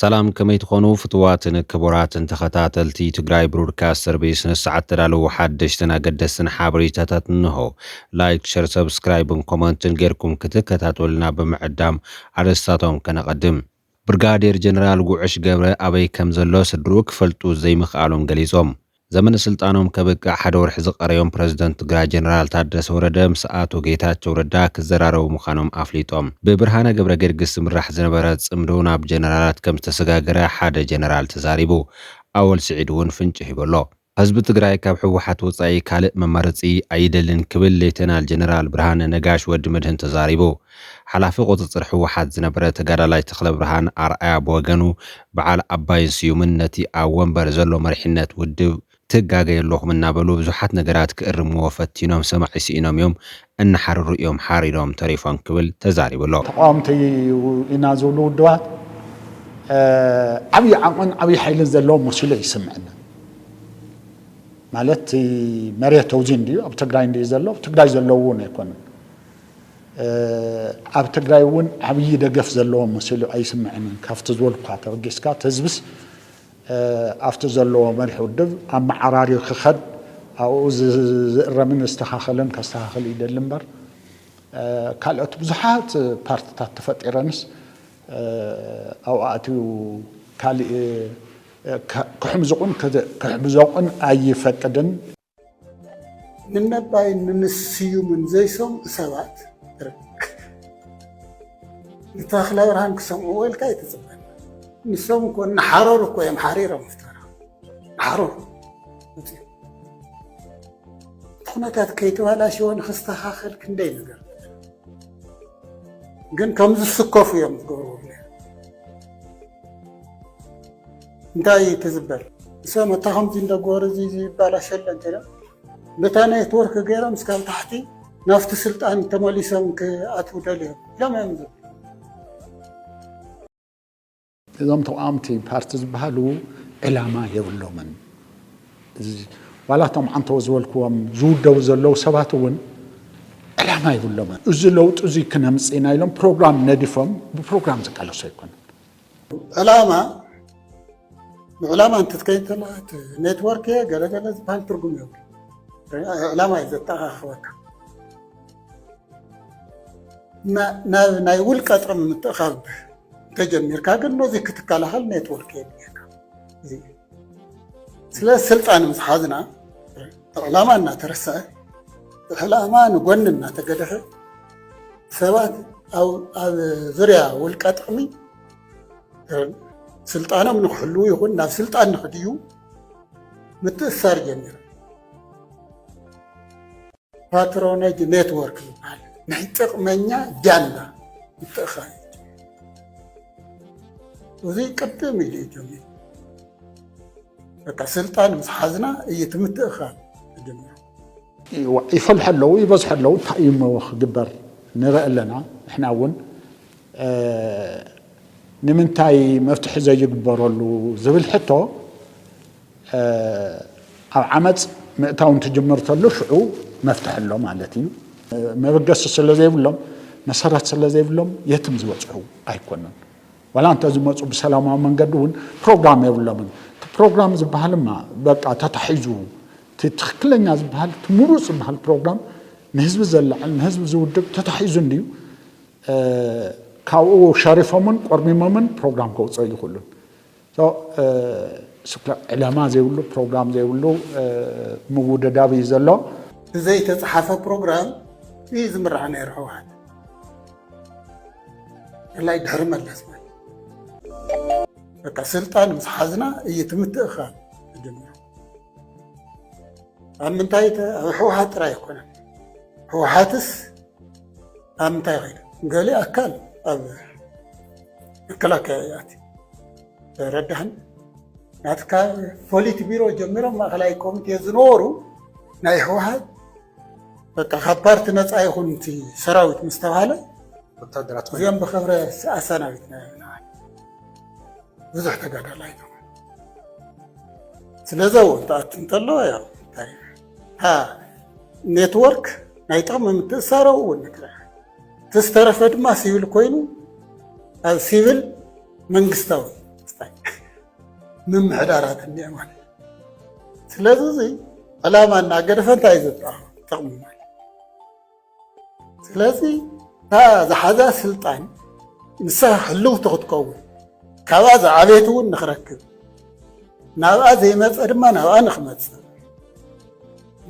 ሰላም ከመይ ትኾኑ ፍትዋትን ክቡራትን ተኸታተልቲ ትግራይ ብሮድካስት ሰርቪስ ንሰዓት ተዳለዉ ሓደሽትን ኣገደስትን ሓበሬታታት እንሆ ላይክ ሸር ሰብስክራይብን ኮመንትን ጌርኩም ክትከታተሉና ብምዕዳም ኣርእስታቶም ከነቐድም ብርጋዴር ጀነራል ጉዕሽ ገብረ ኣበይ ከም ዘሎ ስድርኡ ክፈልጡ ዘይምኽኣሎም ገሊፆም። ዘመነ ስልጣኖም ከብቅዕ ሓደ ወርሒ ዝቐረዮም ፕረዚደንት ትግራይ ጀነራል ታደሰ ወረደ ምስ ኣቶ ጌታቸው ረዳ ክዘራረቡ ምዃኖም ኣፍሊጦም። ብብርሃነ ገብረገርግስ ዝምራሕ ዝነበረ ፅምዶ ናብ ጀነራላት ከም ዝተሰጋገረ ሓደ ጀነራል ተዛሪቡ። ኣወል ስዒድ እውን ፍንጪ ሂቡ ኣሎ። ህዝቢ ትግራይ ካብ ህወሓት ወፃኢ ካልእ መማረፂ ኣይደልን ክብል ሌተናል ጀነራል ብርሃነ ነጋሽ፣ ወዲ መድህን፣ ተዛሪቡ። ሓላፊ ቁፅፅር ህወሓት ዝነበረ ተጋዳላይ ተኽለብርሃን ኣርኣያ ብወገኑ በዓል ኣባይን ስዩምን ነቲ ኣብ ወንበር ዘሎ መሪሕነት ውድብ ትጋገዩ ኣለኹም እናበሉ ብዙሓት ነገራት ክእርምዎ ፈቲኖም ሰማዒ ስኢኖም እዮም እናሓረሩ እዮም ሓሪዶም ተሪፎም ክብል ተዛሪቡ ኣሎ። ተቓወምቲ ኢና ዝብሉ ውድባት ዓብዪ ዓቕምን ዓብዪ ሓይልን ዘለዎም መሲሉ እዩ ዝስምዐና። ማለት እቲ መሬት ኣብዚ እንድዩ ኣብ ትግራይ እንድዩ ዘሎ ኣብ ትግራይ ዘለዉ እውን ኣይኮኑን። ኣብ ትግራይ እውን ዓብዪ ደገፍ ዘለዎም መሲሉ ኣይስምዐንን ካብቲ ዝበልኩካ ተበጊስካ እቲ ህዝብስ ኣብቲ ዘለዎ መሪሕ ውድብ ኣመዓራርዩ ክኸድ ኣብኡ ዝእረምን ዝስተኻኸልን ከስተኻኽል ይደሊ እምበር ካልኦት ብዙሓት ፓርትታት ተፈጢረንስ ኣብኡ ኣትዩ ካሊእ ክሕምዙቑን ክሕብዞቑን ኣይፈቅድን። ንነባይን ንምስዩምን ዘይሰምዑ ሰባት ርክብ ንተኽለ ብርሃን ክሰምዕዎ ኢልካ ኣይትፅበ ንሶም እኮ እናሓረሩ እኮ እዮም ሓሪሮም ፍታራ ሓረሩ እቲ ኩነታት ከይተባላሸወ ንክስተኻኸል ክንደይ ነገር ግን ከም ዝስከፉ እዮም ዝገብርዎ እንታይ እዩ ትዝበል እሰ መታ ከምዚ እንደጎር እዚ ይባላሸለ እንተ በታ ኔትወርክ ገይሮም እስካብ ታሕቲ ናፍቲ ስልጣን ተመሊሶም ክኣትው ደልዮም ኢሎም እዮም ዝብ እዞም ተቃወምቲ ፓርቲ ዝበሃሉ ዕላማ የብሎምን። ዋላ እቶም ዓንተው ዝበልክዎም ዝውደቡ ዘለዉ ሰባት እውን ዕላማ የብሎምን። እዚ ለውጢ እዚ ክነምፅእ ኢና ኢሎም ፕሮግራም ነዲፎም ብፕሮግራም ዝቃለሱ ኣይኮኑን። ዕላማ ንዕላማ እንትትከይድ ከለካ እቲ ኔትወርክ እየ ገለገለ ዝበሃል ትርጉም የብሉ ዕላማ እዩ ዘተኣኻኽበካ ናብ ናይ ውልቀ ጥቕሚ ምትእኻብ ተጀሚርካ ግን ነዚ ክትከላኸል ኔትወርክ የድልየካ ስለ ስልጣን ምስ ሓዝና ዕላማ እናተረሰዐ ዕላማ ንጎኒ እናተገደፈ ሰባት ኣብ ዙርያ ውልቀ ጥቕሚ ስልጣኖም ንክሕልዉ ይኹን ናብ ስልጣን ንክድዩ ምትእሳር ጀሚሩ ፓትሮነጅ ኔትወርክ ዝበሃል ናይ ጥቕመኛ ጃንዳ ምትእኽኻብ እዚ ቅድም ኢሉ እዩ ጀሚሩ። በቃ ስልጣን ምስ ሓዝና እዩ እቲ ምትእኽኻብ ዝጅምር። ይፈልሐ ኣለዉ ይበዝሐ ኣለዉ እንታይ እዩ እሞ ክግበር ንርኢ ኣለና ንሕና እውን ንምንታይ መፍትሒ ዘይግበረሉ ዝብል ሕቶ ኣብ ዓመጽ ምእታው እንትጅምር ተሎ ሽዑ መፍትሒ ኣሎ ማለት እዩ። መበገሲ ስለ ዘይብሎም መሰረት ስለ ዘይብሎም የትም ዝበጽሑ ኣይኮኑን። ዋላ እንተ ዝመጹ ብሰላማዊ መንገዲ እውን ፕሮግራም የብሎምን። እቲ ፕሮግራም ዝበሃልማ በቃ ተታሒዙ እቲ ትክክለኛ ዝበሃል እቲ ምሩጽ ዝበሃል ፕሮግራም ንህዝቢ ዘለዕል ንህዝቢ ዝውድብ ተታሒዙ እንድዩ ካብኡ ሸሪፎምን ቆርሚሞምን ፕሮግራም ከውጽኦ ይኽእሉን። So ስክራፕ ዕላማ ዘይብሉ ፕሮግራም ዘይብሉ ምውደዳብ እዩ ዘሎ። ብዘይተፅሓፈ ፕሮግራም እዩ ዝምራሕ ነይሩ ህወሓት ብፍላይ ድሕሪ መለስ ማለት በቃ ስልጣን ምስ ሓዝና እዩ እቲ ምትእኽኻብ ተጀሚሩ። ኣብ ምንታይ ኣብ ህወሓት ጥራይ ኣይኮነን ህወሓትስ ኣብ ምንታይ ኮይና ገሊኣ ኣካል ኣብ መከላከያ እያት ረዳህን ናት ካብ ፖሊት ቢሮ ጀሚሮም ማእከላይ ኮሚቴ ዝነበሩ ናይ ህወሓት በቃ ካብ ፓርቲ ነፃ ይኹን እቲ ሰራዊት ምስ ተባሃለ ወታደራት ኮይና እዚኦም ብክብረ ኣሰናቢት ነናል ብዙሕ ተጋዳላይ ተኾነ ስለዚ ኣብኡ እንትኣቱ እንተለዎ ያው እንታይ ኔትወርክ ናይ ጥቕሚ ምትእሳሮ እውን ንትረክ እቲ ዝተረፈ ድማ ሲቪል ኮይኑ ኣብ ሲቪል መንግስታዊ ምምሕዳራት እኒአ ማለት ስለዚ ዕላማ እናገደፈ እንታይ እዩ ዘጥራ ጥቕሚ ማለት ስለዚ እታ ዝሓዛ ስልጣን ንሳ ህልውቲ ክትከውን ካብኣ ዝዓበየት እውን ንክረክብ ናብኣ ዘይመፀ ድማ ናብኣ ንክመፅእ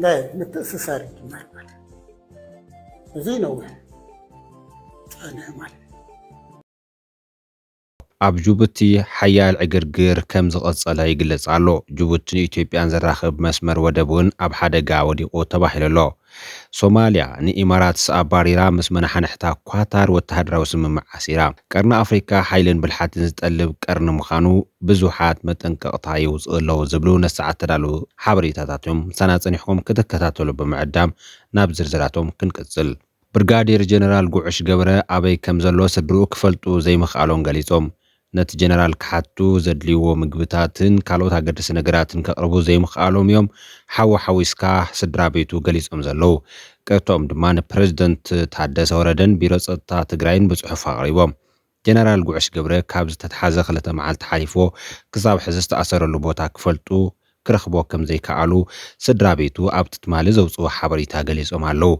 ናይ ምትእስሳር ይጅመር ማለት እዚ ነዊሕ ፀንሐ ማለት ኣብ ጁቡቲ ሓያል ዕግርግር ከም ዝቐጸለ ይግለጽ ኣሎ። ጁቡቲ ንኢትዮጵያን ዘራኽብ መስመር ወደብ እውን ኣብ ሓደጋ ወዲቑ ተባሂሉ ኣሎ። ሶማልያ ንኢማራትስ ኣባሪራ ምስ መነሓንሕታ ኳታር ወተሃደራዊ ስምምዕ ኣሲራ። ቀርኒ ኣፍሪካ ሓይልን ብልሓትን ዝጠልብ ቀርኒ ምዃኑ ብዙሓት መጠንቀቕታ የውጽኡ ኣለዉ ዝብሉ ነሰዓት ዝተዳለዉ ሓበሬታታት እዮም። ምሳና ጸኒሕኩም ክትከታተሉ ብምዕዳም ናብ ዝርዝራቶም ክንቅጽል። ብርጋዴር ጀነራል ጉዕሽ ገብረ ኣበይ ከም ዘሎ ስድርኡ ክፈልጡ ዘይምኽኣሎም ገሊጾም። ነቲ ጀነራል ክሓቱ ዘድልይዎ ምግብታትን ካልኦት ኣገደስቲ ነገራትን ከቕርቡ ዘይምኽኣሎም እዮም ሓው ሓዊስካ ስድራቤቱ ገሊጾም ዘለዉ። ቅርትኦም ድማ ንፕረዚደንት ታደሰ ወረደን ቢሮ ጸጥታ ትግራይን ብጽሑፍ ኣቕሪቦም። ጀነራል ጉዕሽ ገብረ ካብ ዝተትሓዘ ክልተ መዓልቲ ሓሊፍዎ ክሳብ ሕዚ ዝተኣሰረሉ ቦታ ክፈልጡ ክረኽብዎ ከምዘይከኣሉ ስድራ ቤቱ ኣብቲ ትማሊ ዘውጽእዎ ሓበሬታ ገሊጾም ኣለዉ።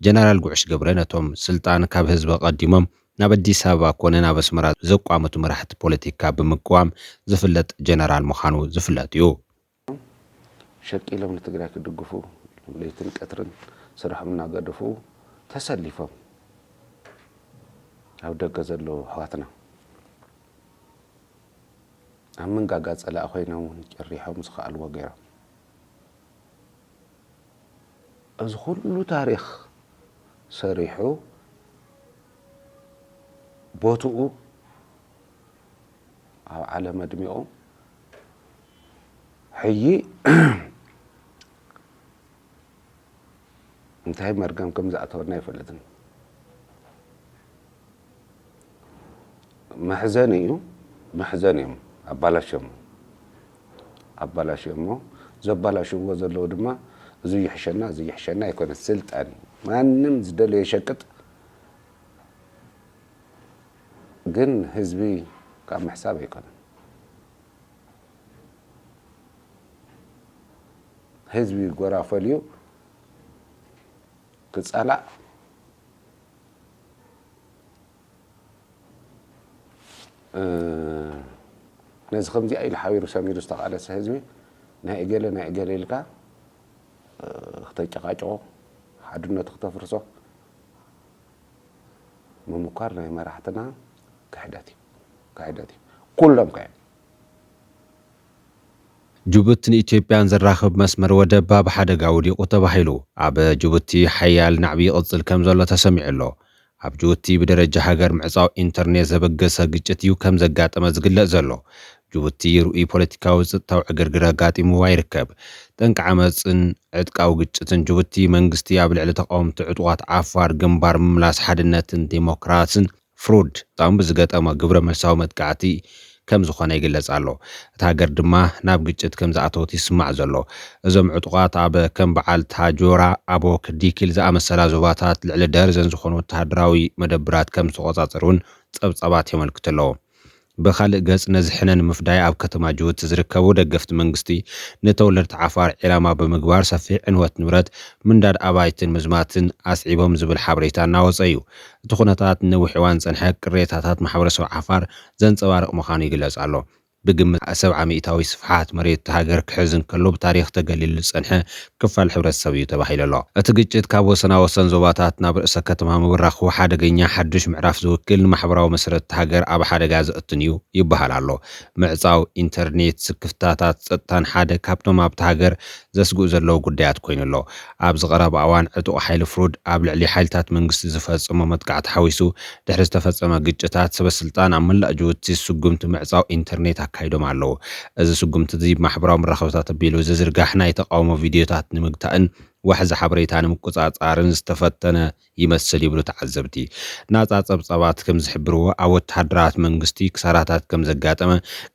ጀነራል ጉዕሽ ገብረ ነቶም ስልጣን ካብ ህዝቢ ኣቐዲሞም ናብ ኣዲስ ኣበባ ኮነ ናብ ኣስመራ ዘቋመቱ መራሕቲ ፖለቲካ ብምቅዋም ዝፍለጥ ጀነራል ምዃኑ ዝፍለጥ'ዩ። ሸቂሎም ንትግራይ ክድግፉ ለይትን ቀትርን ስርሖም እናገደፉ ተሰሊፎም ኣብ ደገ ዘለዉ ኣሕዋትና ኣብ መንጋጋ ፀላኢ ኮይኖም እውን ጨሪሖም ዝኸኣልዎ ገይሮም እዚ ኩሉ ታሪክ ሰሪሑ ቦትኡ ኣብ ዓለም ኣድሚቑ ሕጂ እንታይ መርገም ከም ዝኣተወና ኣይፈልጥን። መሕዘኒ እዩ መሕዘኒ እዮም ኣባላሽሞ ኣባላሽሞ ዘባላሽዎ ዘለዉ ድማ እዚ ይሕሸና እዚ ይሕሸና ኣይኮነ ስልጣን እዩ ማንም ዝደለየ ሸቅጥ ግን ህዝቢ ካብ ምሕሳብ ኣይኮነን ህዝቢ ጎራ ፈልዩ ክፃላእ ነዚ ከምዚኣ ኢሉ ሓቢሩ ሰሚሩ ዝተቃለሰ ህዝቢ ናይ እገለ ናይ እገለ ኢልካ ክተጨቃጭቆ ሓድነቱ ክተፍርሶ ምምኳር ናይ መራሕትና ክሕደት እዩ ክሕደት እዩ ኩሎም ከ ጅቡትን ኢትዮጵያን ዘራኽብ መስመር ወደብ ኣብ ሓደጋ ወዲቑ ተባሂሉ ኣብ ጅቡቲ ሓያል ናዕቢ ይቕጽል ከምዘሎ ተሰሚዑ'ሎ። ኣብ ጅቡቲ ብደረጃ ሃገር ምዕጻው ኢንተርኔት ዘበገሰ ግጭት እዩ ከምዘጋጠመ ዝግለጽ ዘሎ። ጅቡቲ ርኡይ ፖለቲካዊ ጽጥታዊ ዕግርግር ኣጋጢምዋ ይርከብ። ጠንቂ ዓመጽን ዕጥቃዊ ግጭትን ጅቡቲ፣ መንግስቲ ኣብ ልዕሊ ተቓወምቲ ዕጡቓት ዓፋር ግንባር ምምላስ ሓድነትን ዴሞክራስን፣ ፍሩድ፣ ጣም ብዝገጠሞ ግብረመልሳዊ መጥቃዕቲ ከም ዝኾነ ይግለጽ ኣሎ። እታ ሃገር ድማ ናብ ግጭት ከም ዝኣተወት ይስማዕ ዘሎ። እዞም ዕጡቓት ኣብ ከም በዓል ታጆራ፣ ኣቦክ፣ ዲኪል ዝኣመሰላ ዞባታት ልዕሊ ደርዘን ዝኾኑ ወተሃደራዊ መደብራት ከም ዝተቖጻጸሩ'ውን ጸብጻባት የመልክቱ ኣለዉ። ብኻልእ ገፅ ነዚ ሕነ ንምፍዳይ ኣብ ከተማ ጅቡቲ ዝርከቡ ደገፍቲ መንግስቲ ንተወለድቲ ዓፋር ዒላማ ብምግባር ሰፊሕ ዕንወት ንብረት፣ ምንዳድ ኣባይትን ምዝማትን ኣስዒቦም ዝብል ሓበሬታ እናወፀ እዩ። እቲ ኩነታት ንነዊሕ እዋን ዝፀንሐ ቅሬታታት ማሕበረሰብ ዓፋር ዘንፀባርቕ ምዃኑ ይግለፅ ኣሎ። ብግምት ሰብዓ ሚኢታዊ ስፍሓት መሬት እታ ሃገር ክሕዝ እንከሎ ብታሪኽ ተገሊሉ ዝፀንሐ ክፋል ሕብረተሰብ እዩ ተባሂሉ ኣሎ። እቲ ግጭት ካብ ወሰናወሰን ዞባታት ናብ ርእሰ ከተማ ምብራኹ ሓደገኛ ሓዱሽ ምዕራፍ ዝውክል ንማሕበራዊ መሰረት እታ ሃገር ኣብ ሓደጋ ዘእቱን እዩ ይበሃል ኣሎ። ምዕጻው ኢንተርኔት፣ ስክፍታታት ጸጥታን ሓደ ካብቶም ኣብታ ሃገር ዘስግኡ ዘለዉ ጉዳያት ኮይኑ ኣሎ። ኣብዚ ቀረባ እዋን ዕጡቕ ሓይሊ ፍሩድ ኣብ ልዕሊ ሓይልታት መንግስቲ ዝፈጸሞ መጥቃዕቲ ሓዊሱ ድሕሪ ዝተፈጸመ ግጭታት፣ ሰበስልጣን ኣብ መላእ ጅቡቲ ስጉምቲ ምዕጻው ኢንተርኔት ኣካይዶም ኣለዉ። እዚ ስጉምቲ'ዚ ብማሕበራዊ መራኸቢታት ኣቢሉ ዝዝርጋሕ ናይ ተቓውሞ ቪድዮታት ንምግታእን ዋሕዚ ሓበሬታ ንምቁጻጻርን ዝተፈተነ ይመስል ይብሉ ተዓዘብቲ። ናጻ ጸብጻባት ከም ዝሕብርዎ፣ ኣብ ወተሃደራት መንግስቲ ክሳራታት ከም ዘጋጠመ፣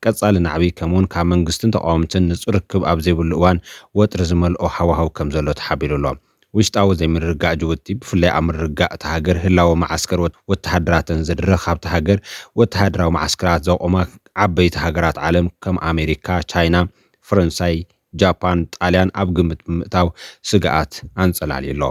ቀጻሊ ናዕቢ፣ ከምኡ'ውን ካብ መንግስትን ተቓወምትን ንጹር ርክብ ኣብ ዘይብሉ እዋን ወጥሪ ዝመልኦ ሃዋህው ከም ዘሎ ተሓቢሩ ኣሎ። ውሽጣዊ ዘይምርግጋእ ጅቡቲ፣ ብፍላይ ኣብ ምርግጋእ እታ ሃገር ህላወ መዓስከር ወተሃደራተን ዝድርኽ፣ ኣብታ ሃገር ወተሃደራዊ መዓስከራት ዘቑማ ዓበይቲ ሃገራት ዓለም ከም ኣሜሪካ፣ ቻይና፣ ፈረንሳይ፣ ጃፓን፣ ጣልያን ኣብ ግምት ብምእታው ስግኣት ኣንጸላልዩ ኣሎ።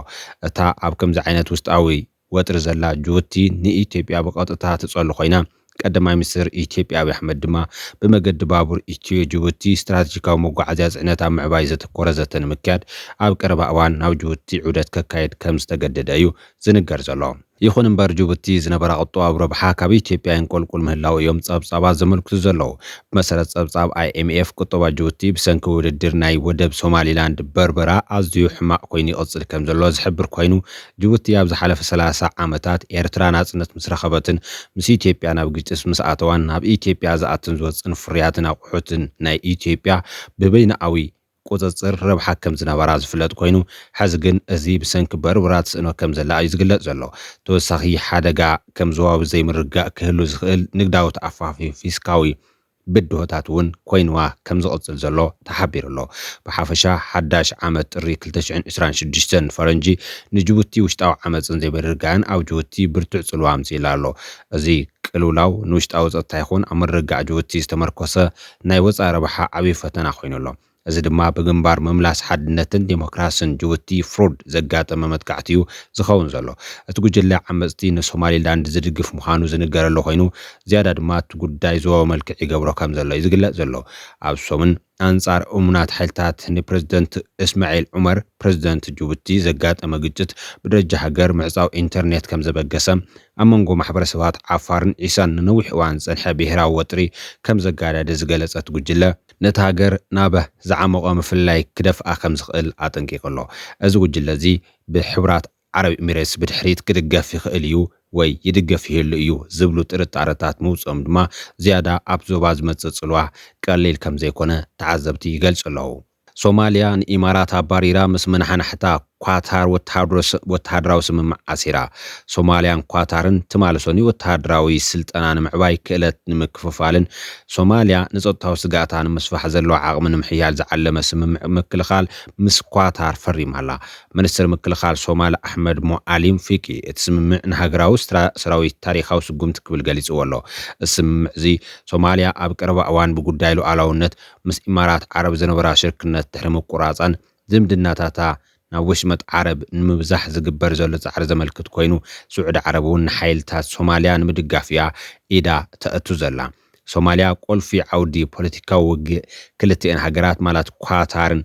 እታ ኣብ ከምዚ ዓይነት ውሽጣዊ ወጥሪ ዘላ ጁቡቲ ንኢትዮጵያ ብቐጥታ ትጸሉ ኮይና፣ ቀዳማይ ሚኒስተር ኢትዮጵያ ኣብይ ኣሕመድ ድማ ብመገዲ ባቡር ኢትዮ-ጁቡቲ ስትራተጂካዊ መጓዓዝያ ጽዕነት ኣብ ምዕባይ ዘተኮረ ዘተ ንምክያድ ኣብ ቀረባ እዋን ናብ ጁቡቲ ዑደት ከካይድ ከምዝተገደደ እዩ ዝንገር ዘሎ። ይኹን እምበር ጁቡቲ ዝነበራ ቁጠባዊ ረብሓ ካብ ኢትዮጵያ የንቆልቁል ምህላዉ እዮም ጸብጻባት ዘመልክቱ ዘለዉ። ብመሰረት ጸብጻብ ኣይኤምኤፍ ቁጠባ ጁቡቲ ብሰንኪ ውድድር ናይ ወደብ ሶማሊላንድ በርበራ ኣዝዩ ሕማቕ ኮይኑ ይቕጽል ከምዘሎ ዝሕብር ኮይኑ፣ ጅቡቲ ኣብ ዝሓለፈ ሰላሳ ዓመታት ኤርትራ ናጽነት ምስ ረኸበትን ምስ ኢትዮጵያ ናብ ግጭት ምስ ኣተዋን ናብ ኢትዮጵያ ዝኣትን ዝወጽእን ፍርያትን ኣቑሑትን ናይ ኢትዮጵያ ብበይነኣዊ ቁጽጽር ረብሓ ከም ዝነበራ ዝፍለጥ ኮይኑ ሕዚ ግን እዚ ብሰንኪ በርብራ ትስእኖ ከም ዘላ እዩ ዝግለጽ ዘሎ። ተወሳኺ ሓደጋ ከም ዞባዊ ዘይምርግጋእ ክህሉ ዝኽእል ንግዳዊ ተኣፋፊ ፊስካዊ ብድሆታት እውን ኮይንዋ ከም ዝቕፅል ዘሎ ተሓቢሩ ኣሎ። ብሓፈሻ ሓዳሽ ዓመት ጥሪ ክልተ ሽሕን ዕስራን ሽዱሽተን ፈረንጂ ንጅቡቲ ውሽጣዊ ዓመፅን ዘይምርግጋእን ኣብ ጅቡቲ ብርቱዕ ፅልዋ ኣምፂኡላ ኣሎ። እዚ ቅልውላው ንውሽጣዊ ፀጥታ ይኹን ኣብ ምርግጋዕ ጅቡቲ ዝተመርኮሰ ናይ ወፃኢ ረብሓ ዓብዪ ፈተና ኮይኑ ኣሎ። እዚ ድማ ብግንባር ምምላስ ሓድነትን ዴሞክራስን ጅቡቲ፣ ፍሩድ፣ ዘጋጠመ መጥቃዕቲ'ዩ ዝኸውን ዘሎ። እቲ ጉጅለ ዓመጽቲ ንሶማሊላንድ ዝድግፍ ምዃኑ ዝንገረሉ ኮይኑ፣ ዝያዳ ድማ እቲ ጉዳይ ዞባዊ መልክዕ ይገብሮ ከምዘሎ'ዩ ዝግለጽ ዘሎ። ኣብ ሰሙን፣ ኣንጻር እሙናት ሓይልታት ንፕረዚደንት እስማዒል ዑመር፣ ፕረዚደንት ጅቡቲ፣ ዘጋጠመ ግጭት ብደረጃ ሃገር ምዕጻው ኢንተርኔት ከምዘበገሰ፣ ኣብ መንጎ ማሕበረሰባት ዓፋርን ዒሳን ንነዊሕ እዋን ዝጸንሐ ብሄራዊ ወጥሪ ከምዘጋደደ ዝገለጸ እቲ ጉጅለ፣ ነቲ ሃገር ናብ ዝዓሞቐ ምፍልላይ ክደፍኣ ከም ዝኽእል ኣጠንቂቑ ኣሎ። እዚ ጉጅለ እዚ ብሕቡራት ዓረብ ኢሚሬትስ ብድሕሪት ክድገፍ ይኽእል እዩ ወይ ይድገፍ ይህሉ እዩ ዝብሉ ጥርጣረታት ምውጽኦም ድማ ዝያዳ ኣብቲ ዞባ ዝመጽእ ጽልዋ ቀሊል ከም ዘይኮነ ተዓዘብቲ ይገልጹ ኣለዉ። ሶማልያ ንኢማራት ኣባሪራ ምስ መናሓናሕታ፣ ኳታር ወተሃደራዊ ስምምዕ ኣሲራ። ሶማልያን ኳታርን ትማሊ ሰኑይ ወተሃደራዊ ስልጠና ንምዕባይ፣ ክእለት ንምክፍፋልን ሶማልያ ንጸጥታዊ ስግኣታ ንምስፋሕ ዘለዋ ዓቕሚ ንምሕያል ዝዓለመ ስምምዕ ምክልኻል ምስ ኳታር ፈሪማ'ላ። ምኒስተር ምክልኻል ሶማል ኣሕመድ ሞዓሊም ፊቂ እቲ ስምምዕ ንሃገራዊ ሰራዊት ታሪኻዊ ስጉምቲ ክብል ገሊጽዎ'ሎ። እዚ ስምምዕ'ዚ ሶማልያ ኣብ ቀረባ እዋን ብጉዳይ ሉኣላውነት ምስ ኢማራት ዓረብ ዝነበራ ሽርክነት ድሕሪ ምቁራጻን፣ ዝምድናታታ ናብ ወሽመጥ ዓረብ ንምብዛሕ ዝግበር ዘሎ ጻዕሪ ዘመልክት ኮይኑ፣ ስዑዲ ዓረብ'ውን ንሓይልታት ሶማልያ ንምድጋፍ'ያ ኢዳ ተእቱ ዘላ። ሶማልያ ቁልፊ ዓውዲ ፖለቲካዊ ውግእ ክልቲኤን ሃገራት ማላት ኳታርን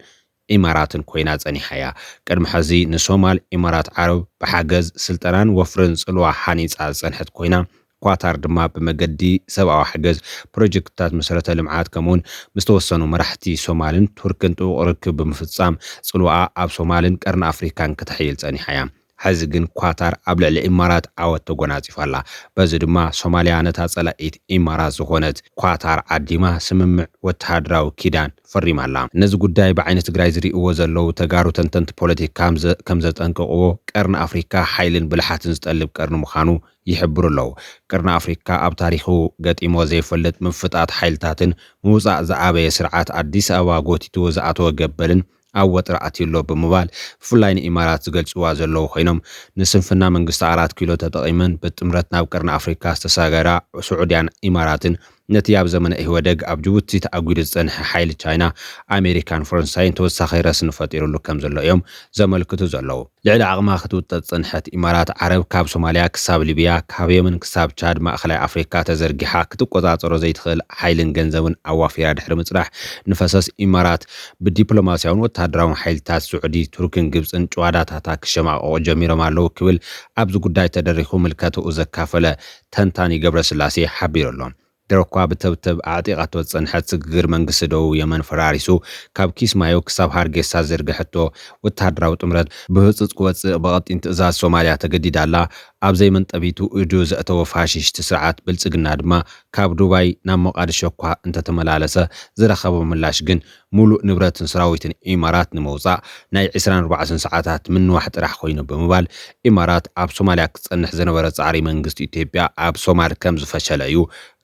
ኢማራትን ኮይና ጸኒሓ'ያ። ቅድሚ ሕዚ ንሶማል ኢማራት ዓረብ ብሓገዝ ስልጠናን ወፍርን ጽልዋ ሃኒጻ ዝጸንሐት ኮይና፣ ኳታር ድማ ብመገዲ ሰብኣዊ ሓገዝ፣ ፕሮጀክትታት መሰረተ ልምዓት ከምኡ'ውን ምስ ተወሰኑ መራሕቲ ሶማልን ቱርክን ጥቡቕ ርክብ ብምፍጻም ጽልዋኣ ኣብ ሶማልን ቀርኒ ኣፍሪካን ክተሕይል ጸኒሓ እያ። ሕዚ ግን ኳታር ኣብ ልዕሊ ኢማራት ዓወት ተጎናጺፋ ኣላ። በዚ ድማ ሶማልያ ነታ ጸላኢት ኢማራት ዝኾነት ኳታር ዓዲማ ስምምዕ ወተሃደራዊ ኪዳን ፈሪማ ኣላ። ነዚ ጉዳይ ብዓይኒ ትግራይ ዝሪእዎ ዘለዉ ተጋሩ ተንተንቲ ፖለቲካ ከምዘጠንቅቕዎ ቀርኒ ኣፍሪካ ሓይልን ብልሓትን ዝጠልብ ቀርኒ ምዃኑ ይሕብሩ ኣለዉ። ቀርኒ ኣፍሪካ ኣብ ታሪኹ ገጢምዎ ዘይፈልጥ ምፍጣት ሓይልታትን ምውፃእ ዝኣበየ ስርዓት ኣዲስ ኣበባ ጎቲትዎ ዝኣተወ ገበልን ኣብ ወጥሪ ኣትዩ ኣሎ ብምባል ብፍላይ ንኢማራት ዝገልፅዋ ዘለዉ ኮይኖም ንስንፍና መንግስቲ ኣራት ኪሎ ተጠቒመን ብጥምረት ናብ ቀርኒ ኣፍሪካ ዝተሳገራ ሱዑድያን ኢማራትን ነቲ ኣብ ዘመነ ኢህወደግ ኣብ ጅቡቲ ተኣጒዱ ዝጸንሐ ሓይሊ ቻይና፣ ኣሜሪካን ፈረንሳይን ተወሳኺ ረስኒ ፈጢሩሉ ከም ዘሎ እዮም ዘመልክቱ ዘለዉ። ልዕሊ ዓቕማ ክትውጠጥ ዝጸንሐት ኢማራት ዓረብ፣ ካብ ሶማልያ ክሳብ ሊብያ፣ ካብ የመን ክሳብ ቻድ፣ ማእከላይ ኣፍሪካ ተዘርጊሓ ክትቆጻጸሮ ዘይትኽእል ሓይልን ገንዘብን ኣዋፊራ ድሕሪ ምጽናሕ፣ ንፈሰስ ኢማራት ብዲፕሎማስያውን ወተሃደራውን ሓይልታት ስዑዲ፣ ቱርክን ግብጽን ጭዋዳታታ ክሸማቐቑ ጀሚሮም ኣለዉ ክብል ኣብዚ ጉዳይ ተደሪኹ ምልከትኡ ዘካፈለ ተንታኒ ገብረስላሴ ሓቢሩ ኣሎ። ድሮ'ኳ ብተብተብ ኣዕጢቓቶ ዝጸንሐት ስግግር መንግስቲ ደቡብ የመን ፈራሪሱ ካብ ኪስማዮ ክሳብ ሃርጌሳ ዝዘርገሐቶ ወተሃደራዊ ጥምረት ብህጹጽ ክወጽእ ብቐጢን ትእዛዝ ሶማልያ ተገዲዳ ኣላ። ኣብ ዘይመንጠቢቱ ኢዱ ዘእተወ ፋሽስት ስርዓት ብልጽግና ድማ ካብ ዱባይ ናብ ሞቓድሾ'ኳ እንተተመላለሰ ዝረኸቦ ምላሽ ግን ሙሉእ ንብረትን ሰራዊትን ኢማራት ንምውፃእ ናይ ዕስራን ኣርባዕተን ሰዓታት ምንዋሕ ጥራሕ ኮይኑ ብምባል ኢማራት ኣብ ሶማሊያ ክፀንሕ ዝነበረ ፃዕሪ መንግስቲ ኢትዮጵያ ኣብ ሶማል ከምዝፈሸለ እዩ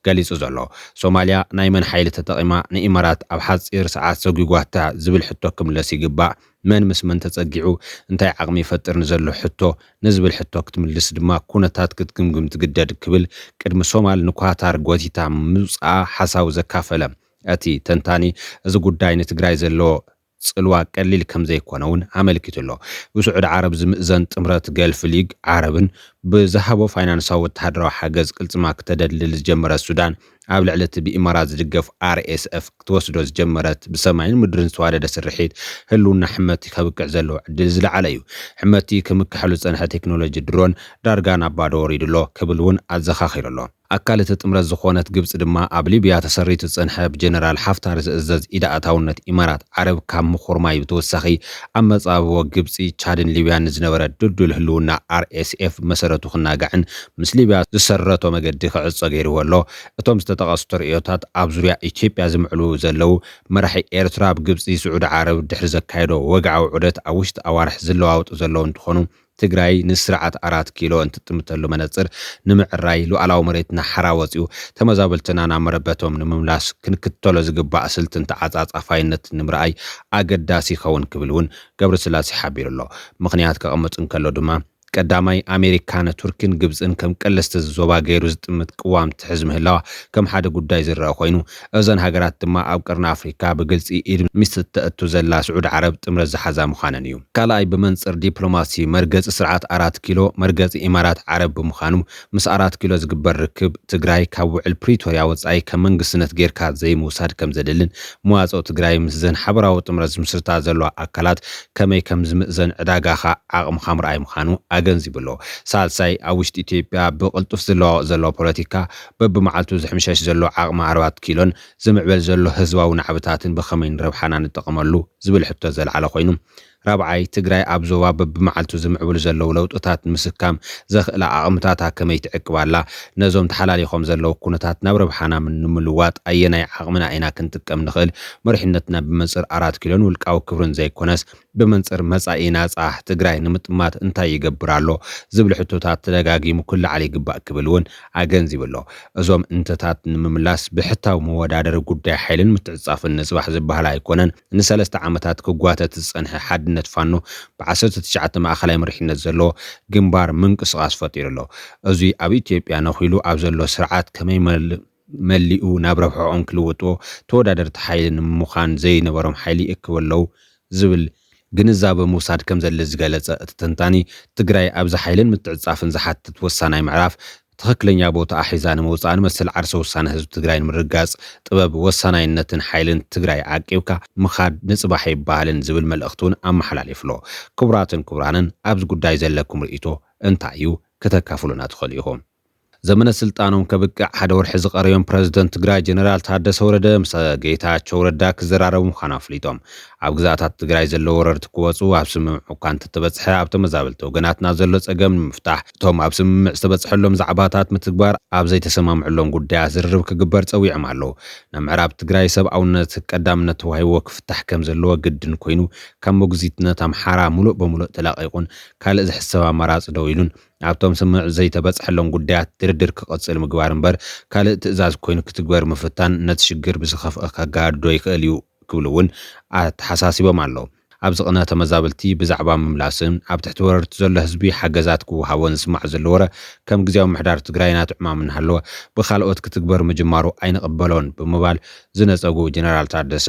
ገሊፁ ዘሎ። ሶማሊያ ናይ መን ሓይሊ ተጠቒማ ንኢማራት ኣብ ሓፂር ሰዓት ሰጒጓታ ዝብል ሕቶ ክምለስ ይግባእ። መን ምስ መን ተፀጊዑ እንታይ ዓቕሚ ይፈጥር ንዘሎ ሕቶ ንዝብል ሕቶ ክትምልስ ድማ ኩነታት ክትግምግም ትግደድ ክብል ቅድሚ ሶማል ንኳታር ጎቲታ ምውፅኣ ሓሳቡ ዘካፈለ እቲ ተንታኒ፣ እዚ ጉዳይ ንትግራይ ዘለዎ ፅልዋ ቀሊል ከምዘይኮነ እውን ኣመልኪቱ ኣሎ። ብስዑዲ ዓረብ ዝምእዘን ጥምረት ገልፍ ሊግ ዓረብን ብዝሃቦ ፋይናንሳዊ ወተሃደራዊ ሓገዝ ቅልፅማ ክተደልድል ዝጀመረት ሱዳን ኣብ ልዕሊ እቲ ብኢማራት ዝድገፍ RSF ክትወስዶ ዝጀመረት ብሰማይን ምድርን ዝተዋደደ ስርሒት ህልውና ሕመቲ ከብቅዕ ዘለዎ ዕድል ዝለዓለ እዩ። ሕመቲ ክምከሐሉ ዝፀንሐ ቴክኖሎጂ ድሮን ዳርጋ ናብ ባዶ ወሪዱ ኣሎ ክብል እውን ኣዘኻኺሩ ኣሎ። ኣካል እቲ ጥምረት ዝኾነት ግብጺ ድማ ኣብ ሊብያ ተሰሪቱ ዝጸንሐ ብጀነራል ሓፍታር ዝእዘዝ ኢድ ኣእታውነት ኢማራት ዓረብ ካብ ምኹርማይ ብተወሳኺ ኣብ መጻብቦ ግብጺ፣ ቻድን ሊብያን ንዝነበረ ድልዱል ህልውና RSF መሰረቱ ክናጋዕን ምስ ሊብያ ዝሰረቶ መገዲ ክዕጾ ገይርዎ ኣሎ። እቶም ዝተጠቐሱ ተርእዮታት ኣብ ዙርያ ኢትዮጵያ ዝምዕሉ ዘለዉ መራሒ ኤርትራ ኣብ ግብጺ፣ ስዑዲ ዓረብ ድሕሪ ዘካየዶ ወግዓዊ ዑደት ኣብ ውሽጢ ኣዋርሕ ዝለዋወጡ ዘለዉ እንትኾኑ፣ ትግራይ ንስርዓት ኣራት ኪሎ እንትጥምተሉ መነፅር ንምዕራይ፣ ሉኣላዊ መሬትና ሓራ ወፂኡ ተመዛበልትና ናብ መረበቶም ንምምላስ ክንክተሎ ዝግባእ ስልትን ተዓፃፃፋይነትን ንምርኣይ ኣገዳሲ ይኸውን ክብል እውን ገብረስላሴ ሓቢሩ ኣሎ። ምኽንያት ከቐምጥ እንከሎ ድማ ቀዳማይ ኣሜሪካ ንቱርኪን ግብፅን ከም ቀለስቲ እዚ ዞባ ገይሩ ዝጥምት ቅዋም ትሕዝ ምህላዋ ከም ሓደ ጉዳይ ዝረኣ ኮይኑ፣ እዘን ሃገራት ድማ ኣብ ቀርኒ ኣፍሪካ ብግልፂ ኢድ ምስቲ ተእቱ ዘላ ስዑዲ ዓረብ ጥምረት ዝሓዛ ምዃነን እዩ። ካልኣይ ብመንፅር ዲፕሎማሲ መርገፂ ስርዓት ኣራት ኪሎ መርገፂ ኢማራት ዓረብ ብምዃኑ ምስ ኣራት ኪሎ ዝግበር ርክብ ትግራይ ካብ ውዕል ፕሪቶርያ ወፃኢ ከም መንግስትነት ገይርካ ዘይምውሳድ ከምዘድልን መዋፅኦ ትግራይ ምስዘን ሓበራዊ ጥምረት ዝምስርታ ዘለዋ ኣካላት ከመይ ከምዝምእዘን ዕዳጋኻ ዓቕምኻ ምርኣይ ምዃኑ ኣገንዚቡ'ሎ። ሳልሳይ ኣብ ውሽጢ ኢትዮጵያ ብቕልጡፍ ዝለዋወጥ ዘሎ ፖለቲካ በብመዓልቱ ዝሕምሸሽ ዘሎ ዓቕሚ ኣርባዕት ኪሎን ዝምዕበል ዘሎ ህዝባዊ ናዕብታትን ብኸመይ ንረብሓና ንጠቐመሉ ዝብል ሕቶ ዘልዓለ ኮይኑ፣ ራብዓይ፣ ትግራይ ኣብ ዞባ በብመዓልቱ ዝምዕብሉ ዘለዉ ለውጥታት ንምስካም ዘኽእላ ዓቕምታታ ከመይ ትዕቅብ ኣላ፣ ነዞም ተሓላሊኾም ዘለዉ ኩነታት ናብ ረብሓና ንምልዋጥ ኣየናይ ዓቕምና ኢና ክንጥቀም ንኽእል፣ መሪሕነትና ብመንፅር ኣራት ኪሎን ውልቃዊ ክብርን ዘይኮነስ ብመንፅር መፃኢ ናፃ ትግራይ ንምጥማት እንታይ ይገብር ኣሎ ዝብል ሕቶታት ተደጋጊሙ ክለዓል ይግባእ ክብል እውን ኣገንዚቡ ኣሎ። እዞም እንተታት ንምምላስ ብሕታዊ መወዳደሪ ጉዳይ ሓይልን ምትዕፅፃፍን ንፅባሕ ዝበሃል ኣይኮነን። ንሰለስተ ዓመታት ክጓተት ዝፀንሐ ሓድነት ፋኖ ብ ዓሰርተ ትሽዓተ ማእኸላይ መሪሕነት ዘለዎ ግንባር ምንቅስቓስ ፈጢሩ ኣሎ። እዙይ ኣብ ኢትዮጵያ ነኺሉ ኣብ ዘሎ ስርዓት ከመይ መሊኡ ናብ ረብሕኦም ክልውጥዎ ተወዳደርቲ ሓይሊ ንምዃን ዘይነበሮም ሓይሊ ይእክቡ ኣለው ዝብል ግንዛበ ምውሳድ ከምዘድሊ ዝገለፀ እቲ ተንታኒ፣ ትግራይ ኣብዚ ሓይልን ምትዕፅፃፍን ዝሓትት ወሳናይ ምዕራፍ ትኽክለኛ ቦትኣ ሒዛ ንምውፃእን መሰል ዓርሰ ውሳነ ህዝቢ ትግራይ ንምርግጋፅ ጥበብ ወሳናይነትን ሓይልን ትግራይ ዓቂብካ ምኻድ ንፅባሕ ኣይበሃልን ዝብል መልእኽቲ እውን ኣመሓላሊፉ'ሎ። ክቡራትን ክቡራንን ኣብዚ ጉዳይ ዘለኩም ርእይቶ እንታይ እዩ? ክተካፍሉና ትኽእሉ ኢኹም። ዘመነ ስልጣኖም ከብቅዕ ሓደ ወርሒ ዝቐረዮም ፕረዚደንት ትግራይ ጀነራል ታደሰ ወረደ ምስ ጌታቸው ረዳ ክዘራረቡ ምዃኑ ኣፍሊጦም። ኣብ ግዝኣታት ትግራይ ዘለዉ ወረርቲ ክወፁ ኣብ ስምምዕ እኳ እንተተበፅሐ ኣብ ተመዛበልቲ ወገናትና ዘሎ ፀገም ንምፍታሕ እቶም ኣብ ስምምዕ ዝተበፅሐሎም ዛዕባታት ምትግባር ኣብ ዘይተሰማምዕሎም ጉዳያት ዝርርብ ክግበር ፀዊዖም ኣለዉ። ናይ ምዕራብ ትግራይ ሰብኣውነት ቀዳምነት ተዋሂብዎ ክፍታሕ ከምዘለዎ ግድን ኮይኑ ካብ ሞግዚትነት ኣምሓራ ሙሉእ በሙሉእ ተላቒቑን ካልእ ዝሕሰብ ኣማራፂ ደው ኢሉን ኣብቶም ስምምዕ ዘይተበጽሐሎም ጉዳያት ድርድር ክቕጽል ምግባር እምበር ካልእ ትእዛዝ ኮይኑ ክትግበር ምፍታን ነቲ ሽግር ብዝኸፍኣ ከጋድዶ ይኽእል እዩ ክብሉ እውን ኣተሓሳሲቦም ኣለው። ኣብ ዝቕነ ተመዛበልቲ ብዛዕባ ምምላስን ኣብ ትሕቲ ወረርቲ ዘሎ ህዝቢ ሓገዛት ክወሃቦን ዝስማዕ ዘሎ ወረ ከም ግዝያዊ ምምሕዳር ትግራይ ናቱ ዕማም እናሃለወ ብኻልኦት ክትግበር ምጅማሩ ኣይንቕበሎን ብምባል ዝነጸጉ ጀነራል ታደሰ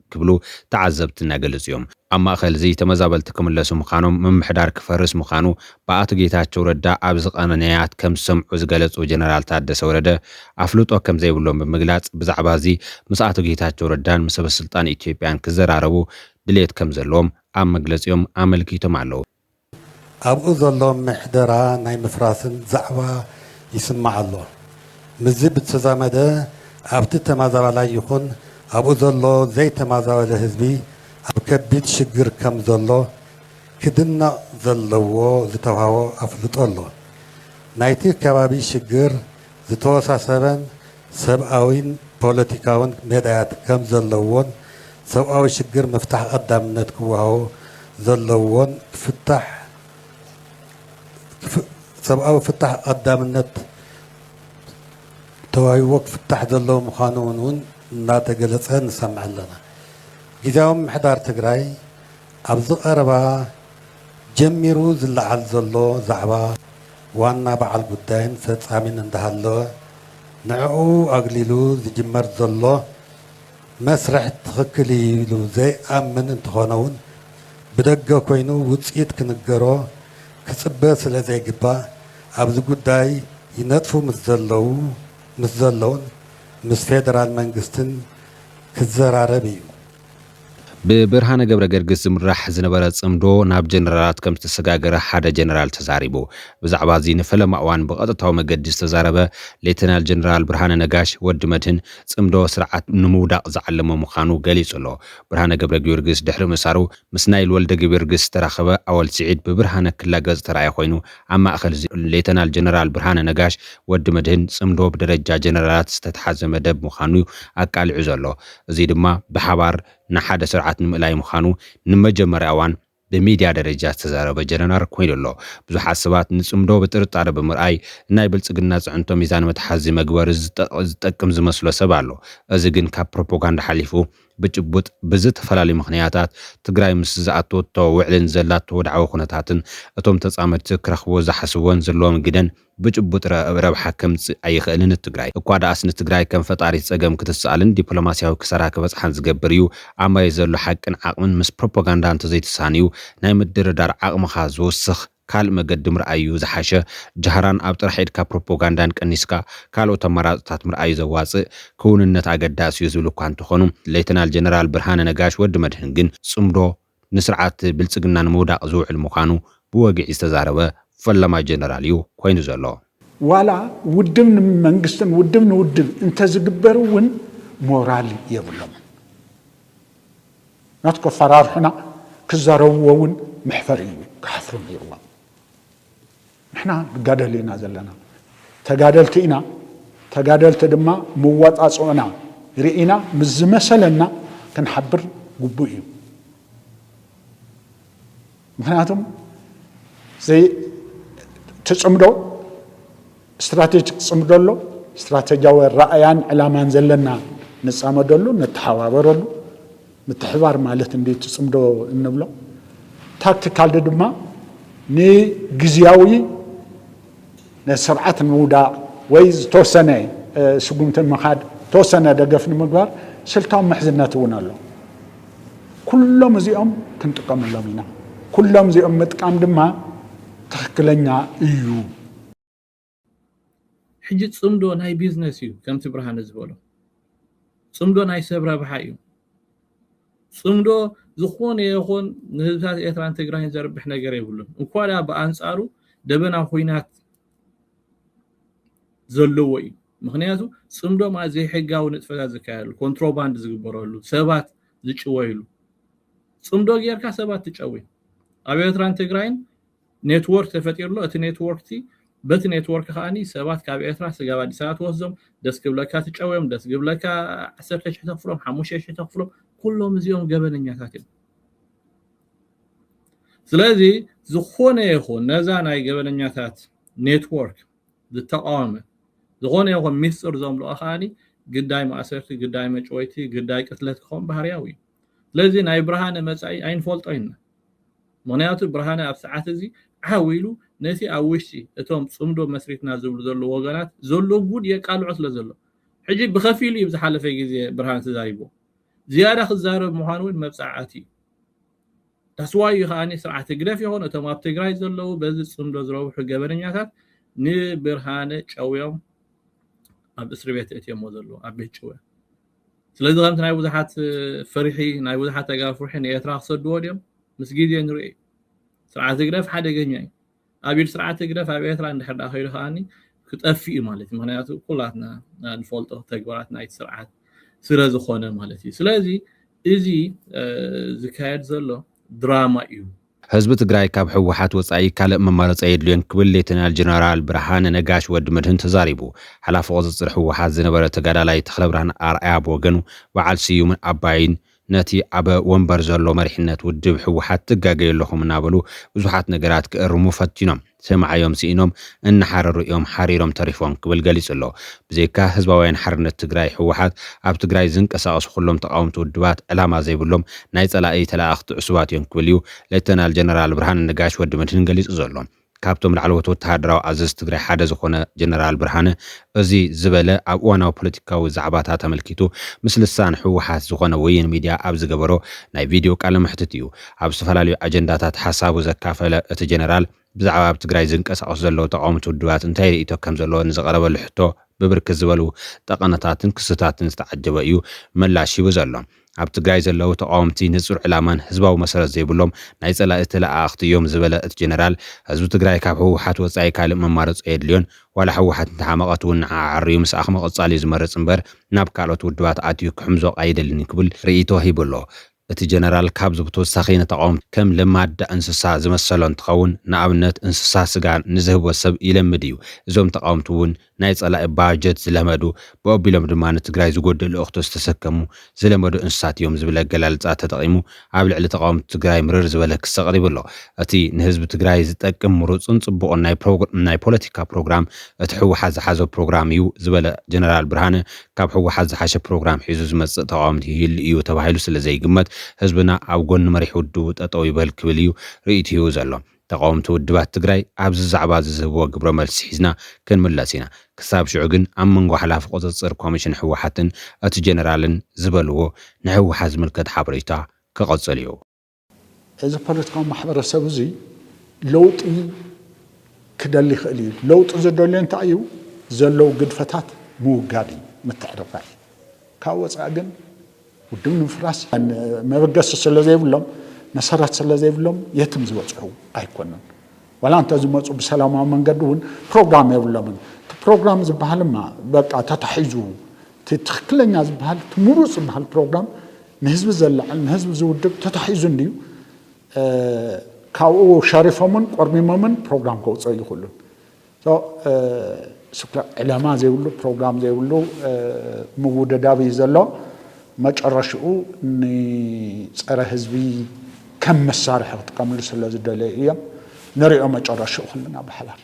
ክብሉ ተዓዘብቲ እናገለፁ ዮም። ኣብ ማእኸል እዙይ ተመዛበልቲ ክምለሱ ምዃኖም፣ ምምሕዳር ክፈርስ ምዃኑ ብኣቶ ጌታቸው ረዳ ኣብ ዝቐመ ነያት ከም ዝሰምዑ ዝገለፁ ጀነራል ታደሰ ወረደ ኣፍልጦ ከም ዘይብሎም ብምግላፅ ብዛዕባ እዚ ምስ ኣቶ ጌታቸው ረዳን ምስ ሰበስልጣን ኢትዮጵያን ክዘራረቡ ድልየት ከም ዘለዎም ኣብ መግለፂኦም ኣመልኪቶም ኣለው። ኣብኡ ዘሎ ምሕደራ ናይ ምፍራስን ዛዕባ ይስማዕ ኣሎ። ምስዚ ብዝተዛመደ ኣብቲ ተማዛባላይ ይኹን ኣብኡ ዘሎ ዘይተማዛበለ ህዝቢ ኣብ ከቢድ ሽግር ከም ዘሎ ክድነቕ ዘለዎ ዝተውሃቦ ኣፍልጦ ኣሎ። ናይቲ ከባቢ ሽግር ዝተወሳሰበን ሰብኣዊን ፖለቲካውን ሜዳያት ከም ዘለዉዎን ሰብኣዊ ሽግር ምፍታሕ ቐዳምነት ክወሃቦ ዘለዎን ክፍታሕ ሰብኣዊ ፍታሕ ቐዳምነት ተዋሂብዎ ክፍታሕ ዘለዎ ምዃኑ ውን ውን እናተገለፀ ንሰምዕ ኣለና። ጊዜያዊ ምምሕዳር ትግራይ ኣብዚ ቐረባ ጀሚሩ ዝለዓል ዘሎ ዛዕባ ዋና በዓል ጉዳይን ፈፃሚን እንዳሃለወ፣ ንዕኡ ኣግሊሉ ዝጅመር ዘሎ መስርሕ ትኽክል እዩ ኢሉ ዘይኣምን እንተኾነ'ውን ብደገ ኮይኑ ውጽኢት ክንገሮ ክጽበ ስለዘይግባእ ኣብዚ ጉዳይ ይነጥፉ ምስ ዘለዉ ምስ ዘለዉን ምስ ፌደራል መንግስትን ክዘራረብ እዩ። ብብርሃነ ገብረገርግስ ዝምራሕ ዝነበረ ጽምዶ ናብ ጀነራላት ከም ዝተሰጋገረ ሓደ ጀነራል ተዛሪቡ። ብዛዕባ'ዚ ንፈለማ እዋን ብቐጥታዊ መገዲ ዝተዛረበ ሌተናል ጀነራል ብርሃነ ነጋሽ፣ ወዲ መድህን፣ ጽምዶ ስርዓት ንምውዳቕ ዝዓለመ ምዃኑ ገሊጹ ኣሎ። ብርሃነ ገብረጊዮርግስ ድሕሪ ምእሳሩ ምስ ናይል ወልደገቢዮርግስ ዝተራኸበ ኣወል ስዒድ ብብርሃነ ክላገጽ ዝተራእየ ኮይኑ፣ ኣብ ማእከል ሌተናል ጀነራል ብርሃነ ነጋሽ፣ ወዲ መድህን፣ ጽምዶ ብደረጃ ጀነራላት ዝተትሓዘ መደብ ምዃኑ'ዩ ኣቃሊዑ ዘሎ። እዚ ድማ ብሓባር ንሓደ ስርዓት ንምእላይ ምዃኑ ንመጀመርያ እዋን ብሚድያ ደረጃ ዝተዛረበ ጀነራር ኮይኑ ኣሎ። ብዙሓት ሰባት ንጽምዶ ብጥርጣረ ብምርኣይ ንናይ ብልጽግና ጽዕንቶ ሚዛን መትሓዚ መግበሪ ዝጠቅም ዝመስሎ ሰብ ኣሎ። እዚ ግን ካብ ፕሮፖጋንዳ ሓሊፉ ብጭቡጥ ብዝተፈላለዩ ምኽንያታት ትግራይ ምስ ዝኣተወቶ ውዕልን ዘላቶ ወድዓዊ ኩነታትን እቶም ተጻመድቲ ክረኽብዎ ዝሓስብዎን ዘለዎም ግደን ብጭቡጥ ረብሓ ከምጽእ ኣይኽእልን ን ትግራይ እኳ ድኣስ ንትግራይ ከም ፈጣሪት ጸገም ክትስኣልን ዲፕሎማሲያዊ ክሳራ ክበጽሓን ዝገብር እዩ ኣብ መሬት ዘሎ ሓቅን ዓቕምን ምስ ፕሮፖጋንዳ እንተዘይትሳንዩ ናይ ምድርዳር ዓቕምኻ ዝውስኽ ካልእ መገዲ ምርኣይ እዩ ዝሓሸ ጃህራን ኣብ ጥራሕ ኢድካ ፕሮፖጋንዳን ቀኒስካ ካልኦት ኣማራጽታት ምርኣይ ዘዋጽእ ክውንነት ኣገዳሲ እዩ ዝብሉ እኳ እንተኾኑ ሌተናል ጀነራል ብርሃነ ነጋሽ ወዲ መድህን ግን ጽምዶ ንስርዓት ብልፅግና ንምውዳቕ ዝውዕል ምዃኑ ብወግዒ ዝተዛረበ ፈላማይ ጀነራል እዩ ኮይኑ ዘሎ። ዋላ ውድብ ንመንግስትን ውድብ ንውድብ እንተዝግበር እውን ሞራል የብሎምን። ናቱ ከፈራርሑና ክዛረብዎ እውን መሕፈሪ እዩ። ክሓፍሩ ነይርዎም። ንሕና ንጋደል ኢና ዘለና ተጋደልቲ ኢና ተጋደልቲ ድማ መዋፃፅኦና ሪኢና ምስ ዝመሰለና ክንሓብር ግቡእ እዩ ምክንያቱም ዘይ ትፅምዶ ስትራቴጂክ ፅምዶ ኣሎ ስትራቴጂያዊ ራእያን ዕላማን ዘለና ንፃመደሉ ነተሓባበረሉ ምትሕብባር ማለት እንዲ እቲ ጽምዶ እንብሎ ታክቲካልዲ ድማ ንግዝያዊ ነቲ ስርዓት ንምውዳቕ ወይ ዝተወሰነ ስጉምቲ ንምኻድ ተወሰነ ደገፍ ንምግባር ስልታዊ ምሕዝነት እውን ኣሎ ኩሎም እዚኦም ክንጥቀመሎም ኢና ኩሎም እዚኦም ምጥቃም ድማ ትኽክለኛ እዩ። ሕጂ ጽምዶ ናይ ቢዝነስ እዩ ከምቲ ብርሃነ ዝበሎ ጽምዶ ናይ ሰብ ረብሓ እዩ ጽምዶ ዝኾነ ይኹን ንህዝብታት ኤርትራን ትግራይን ዘርብሕ ነገር የብሉን እንኳ ድኣ ብኣንጻሩ ደበና ኩናት ዘለዎ እዩ ምክንያቱ ጽምዶ ማለት ዘይሕጋዊ ንጥፈታት ዝካየሉ ኮንትሮባንድ ዝግበረሉ ሰባት ዝጭወይሉ ጽምዶ ጌርካ ሰባት ትጨውይ ኣብ ኤርትራን ትግራይን ኔትዎርክ ተፈጢሩ ኣሎ እቲ ኔትዎርክ እቲ በቲ ኔትዎርክ ከኣ ሰባት ካብ ኤርትራ ስጋብ ኣዲስ ኣበባ ትወስዶም ደስ ክብለካ ትጨውዮም ደስ ክብለካ ዓሰርተ ሽሕ ተኽፍሎም ሓሙሽተ ሽሕ ተኽፍሎም ኩሎም እዚኦም ገበነኛታት እዮም ስለዚ ዝኾነ ይኹን ነዛ ናይ ገበነኛታት ኔትወርክ ዝተቃወመ ዝኾነ ይኹን ሚስጥር ዘምልኦ ከዓኒ ግዳይ ማእሰርቲ ግዳይ መጭወይቲ ግዳይ ቅትለት ክኸውን ባህርያዊ እዩ ስለዚ ናይ ብርሃነ መጻኢ ኣይንፈልጦን ኢና። ምኽንያቱ ብርሃነ ኣብ ሰዓት እዚ ዓው ኢሉ ነቲ ኣብ ውሽጢ እቶም ጽምዶ መስሪትና ዝብሉ ዘለዉ ወገናት ዘሎ ጉድ የቃልዖ ስለ ዘሎ። ሕጂ ብኸፊሉ እዩ ዝሓለፈ ግዜ ብርሃነ ተዛሪብዎ። ዝያዳ ክዛረብ ምዃኑ እውን መብጻዓኣቲ እዩ። That's why እዩ ከኣ ስርዓት ህግደፍ ይኹን እቶም ኣብ ትግራይ ዘለዉ በዚ ጽምዶ ዝረብሑ ገበነኛታት ንብርሃነ ጨውዮም ኣብ እስርቤት እእትዮሞ ዘለዉ ኣብ ቤት ጭውያ። ስለዚ ከምቲ ናይ ብዙሓት ፍርሒ ናይ ብዙሓት ተጋሩ ፍርሒ ንኤርትራ ክሰድዎ ድዮም ምስ ግዜ ንርኢ ስርዓት ህግደፍ ሓደገኛ እዩ ኣብ ኢድ ስርዓት ህግደፍ ኣብ ኤርትራ እንድሕር ዳ ከይዱ ከዓኒ ክጠፍእ እዩ ማለት እዩ ምክንያቱ ኩላትና ንፈልጦ ተግባራት ናይቲ ስርዓት ስለ ዝኾነ ማለት እዩ ስለዚ እዚ ዝካየድ ዘሎ ድራማ እዩ ህዝቢ ትግራይ ካብ ህወሓት ወፃኢ ካልእ መማረፂ ኣየድልዮን ክብል ሌተናል ጀነራል ብርሃነ ነጋሽ፣ ወዲ መድህን፣ ተዛሪቡ። ሓላፊ ቁፅፅር ህወሓት ዝነበረ ተጋዳላይ ተኽለብርሃን ኣርኣያ ብወገኑ በዓል ስዩምን ኣባይን ነቲ ኣብ ወንበር ዘሎ መሪሕነት ውድብ ህወሓት ትጋገዩ ኣለኹም እናበሉ ብዙሓት ነገራት ክእርሙ ፈቲኖም። ሰማዕዮም ስኢኖም እናሓረሩ እዮም ሓሪሮም ተሪፎም ክብል ገሊፁ ኣሎ። ብዘይካ ህዝባውያን ሓርነት ትግራይ፣ ህወሓት፣ ኣብ ትግራይ ዝንቀሳቐሱ ኩሎም ተቓወምቲ ውድባት ዕላማ ዘይብሎም ናይ ፀላኢ ተለኣኣኽቲ ዕሱባት እዮም ክብል እዩ ሌተናል ጀነራል ብርሃነ ነጋሽ፣ ወዲ መድህን፣ ገሊፁ ዘሎ። ካብቶም ላዕለዎት ወተሃደራዊ ኣዘዝቲ ትግራይ ሓደ ዝኾነ ጀነራል ብርሃነ እዚ ዝበለ ኣብ እዋናዊ ፖለቲካዊ ዛዕባታት ኣመልኪቱ ምስ ልሳን ህወሓት ዝኾነ ወይን ሚድያ ኣብ ዝገበሮ ናይ ቪድዮ ቃለ መሕትት እዩ። ኣብ ዝተፈላለዩ ኣጀንዳታት ሓሳቡ ዘካፈለ እቲ ጀነራል፣ ብዛዕባ ኣብ ትግራይ ዝንቀሳቐሱ ዘለዉ ተቓወምቲ ውድባት እንታይ ርእይቶ ከም ዘለዎ ንዝቐረበሉ ሕቶ ብብርክት ዝበሉ ጠቐነታትን ክስታትን ዝተዓጀበ እዩ ምላሽ ሂቡ ዘሎ። ኣብ ትግራይ ዘለዉ ተቓወምቲ ንጹር ዕላማን ህዝባዊ መሰረት ዘይብሎም ናይ ጸላኢ ተለኣኣኽቲ እዮም ዝበለ እቲ ጀነራል፣ ህዝቢ ትግራይ ካብ ህወሓት ወጻኢ ካልእ መማረጺ ኣየድልዮን፣ ዋላ ህወሓት እንተሓመቐት እውን ንዓኣ ኣዐርዩ ምስኣኽ ምቕጻል እዩ ዝመርጽ እምበር ናብ ካልኦት ውድባት ኣትዩ ክሕምዞቕ ኣይደልን ክብል ርእይቶ ሂቡ ኣሎ። እቲ ጀነራል ካብዚ ብተወሳኺ ንተቓወምቲ ከም ለማዳ እንስሳ ዝመሰሎ እንትኸውን ንኣብነት እንስሳ ስጋ ንዝህቦ ሰብ ይለምድ እዩ። እዞም ተቓወምቲ እውን ናይ ፀላኢ ባጀት ዝለመዱ ብኦቢሎም ድማ ንትግራይ ዝጎድእ ልእኽቶ ዝተሰከሙ ዝለመዱ እንስሳት እዮም ዝብል ኣገላልፃ ተጠቒሙ ኣብ ልዕሊ ተቓወምቲ ትግራይ ምርር ዝበለ ክሲ ኣቕሪቡ ኣሎ። እቲ ንህዝቢ ትግራይ ዝጠቅም ምሩፅን ፅቡቕን ናይ ፖለቲካ ፕሮግራም እቲ ህወሓት ዝሓዞ ፕሮግራም እዩ ዝበለ ጀነራል ብርሃነ ካብ ህወሓት ዝሓሸ ፕሮግራም ሒዙ ዝመፅእ ተቓዋሚ ይህሉ እዩ ተባሂሉ ስለ ዘይግመት ህዝብና ኣብ ጎኒ መሪሕ ውድቡ ጠጠው ይበል ክብል እዩ ርኢቱ ሂቡ ዘሎ። ተቓወምቲ ውድባት ትግራይ ኣብዚ ዛዕባ እዚ ዝህብዎ ግብረ መልሲ ሒዝና ክንምለስ ኢና። ክሳብ ሽዑ ግን ኣብ መንጎ ሓላፊ ቁፅፅር ኮሚሽን ህወሓትን እቲ ጀነራልን ዝበልዎ ንህወሓት ዝምልከት ሓበሬታ ክቕፅል እዩ። እዚ ፖለቲካዊ ማሕበረሰብ እዚ ለውጢ ክደሊ ይኽእል እዩ። ለውጢ ዝደልዮ እንታይ እዩ? ዘለዉ ግድፈታት ምውጋድ እዩ፣ ምትዕርራይ እዩ። ካብ ወፃኢ ግን ውድብ ንምፍራስ መበገሲ ስለ ዘይብሎም መሰረት ስለ ዘይብሎም የትም ዝበፅሑ ኣይኮኑን። ዋላ እንተዝመፁ ብሰላማዊ መንገዲ እውን ፕሮግራም የብሎምን። እቲ ፕሮግራም ዝበሃልማ በቃ ተታሒዙ እቲ ትኽክለኛ ዝበሃል እቲ ምሩፅ ዝበሃል ፕሮግራም ንህዝቢ ዘለዕል ንህዝቢ ዝውድብ ተታሒዙ እንድዩ ካብኡ ሸሪፎምን ቆርሚሞምን ፕሮግራም ከውፅኦ ይኽእሉን ዕለማ ዘይብሉ ፕሮግራም ዘይብሉ ምውድዳብ እዩ ዘሎ። መጨረሽኡ ንጸረ ህዝቢ ከም መሳርሒ ክጥቀምሉ ስለ ዝደለዩ እዮም። ንሪኦ መጨረሽኡ ኩልና ብሓባር።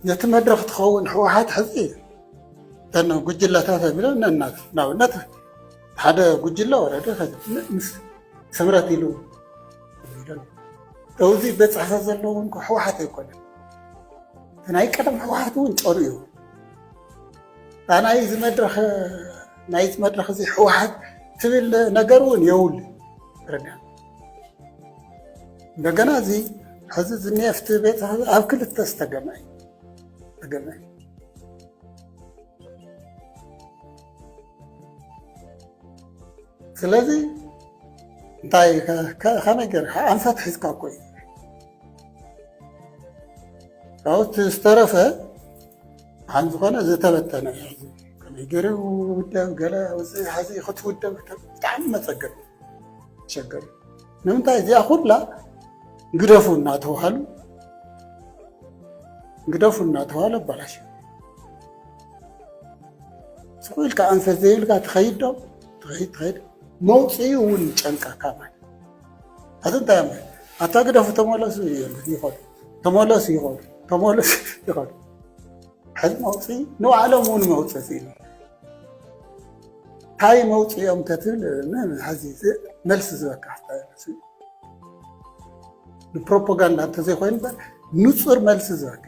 ነቲ መድረኽ ትኸውን ህወሓት ሕዚ እተን ጉጅለታት ኣቢሎም ነናት ንኣብነት ሓደ ጉጅለ ወረደ ምስ ስምረት ኢሉ እዚ ቤት ፅሕፈት ዘለዎ ህወሓት ኣይኮነን ናይ ቀደም ህወሓት እውን ጨርኡ ናይ እዚ መድረኽ ናይ እዚ መድረኽ እዚ ህወሓት ትብል ነገር እውን የውል ርዳ እንደገና እዚ ሕዚ ዝኒኤፍቲ ቤት ኣብ ክልተ ዝተገመ እዩ ተገመ እዩ ስለዚ እንታይ ከመይ ገርካ ኣንፈት ሒዝካ እኮ እዩ ካብኡ ዝተረፈ ከም ዝኾነ ዝተበተነ ከመይ ገይረ ውዳብ ገለ ውፅኢ ሓዚ ክትውደብ ብጣዕሚ መፀገም ሸገር ንምንታይ እዚኣ ኩላ ግደፉ እናተባሃሉ ግደፉ እናተባሃሉ ኣባላሽ ስኩኢልካ ኣንፈት ዘይብልካ ትኸይድ ዶ ትኸይድ ትኸይድ መውፅኢ እውን ጨንቃካ ማለት ኣዚ እንታይ ማለት ኣታ ግደፉ ተመለሱ ይኸዱ ተመለሱ ይቐሉ ተመለሱ ይቐሉ ሕዚ መውፅ ንባዕሎም እውን መውፅእ ኢሉ እንታይ መውፅኦም ተትብል ሕዚ መልሲ ዝበካ ንፕሮፓጋንዳ እንተዘይኮይኑ ንፁር መልሲ ዝበካ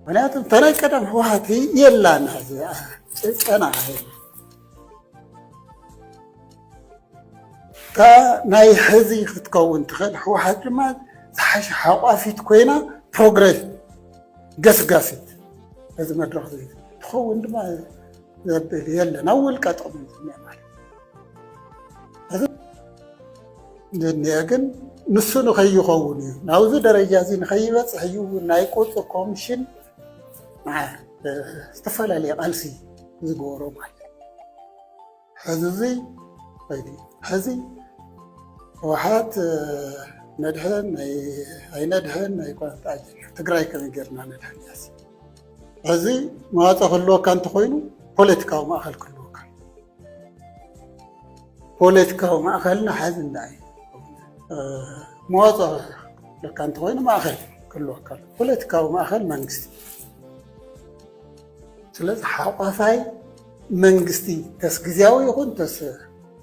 ምክንያቱ ተናይ ቀደም ህወሓት የላን ሕዚ ጭቀና እታ ናይ ሕዚ ክትከውን ትኽእል ህወሓት ድማ ዝሓሸ ሓቋፊት ኮይና ፕሮግረስ ገስጋሲት እዚ መድረኽ እዚ ትኸውን ድማ ዘብል የለን ኣብ ውልቀ ጥቕሚ ዝኒአ ማለት እዚ ዝኒአ ግን ንሱ ንኸይኸውን እዩ ናብዚ ደረጃ እዚ ንኸይበፅሕ እዩ ናይ ቁፅሪ ኮሚሽን ዝተፈላለየ ቃልሲ ዝገበሮ ማለት ሕዝዚ ኸይዲ ሕዚ ህወሓት ነድሕን ኣይነድሕን ኣይቋንጣ ትግራይ ከመይ ጌርና ነድሕን ያሲ ሕዚ መዋፀ ክህልወካ እንተኾይኑ ፖለቲካዊ ማእኸል ክህልወካ ፖለቲካዊ ማእኸልና ሓዚ እንዳ እዩ መዋፀ ለካ እንተኾይኑ ማእኸል ክህልወካ ፖለቲካዊ ማእኸል መንግስቲ ስለዚ ሓቋፋይ መንግስቲ ተስ ግዜያዊ ይኹን ተስ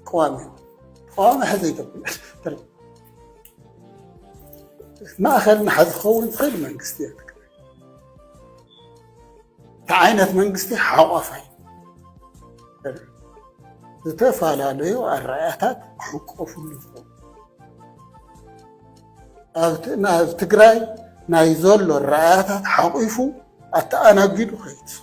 ቀዋሚ ተቃዋሚ ሕዘ ኢትዮጵያ ማእኸል ንሓዚ ክኸውን ዝኽእል መንግስቲ እየ እቲ ዓይነት መንግስቲ ሓቋፋይ ዝተፈላለዩ ኣረኣእያታት ክሕቆፍሉ ዝኽእሉ ኣብ ትግራይ ናይ ዘሎ ረኣያታት ሓቑፉ ኣተኣናጊዱ ከይትስፈ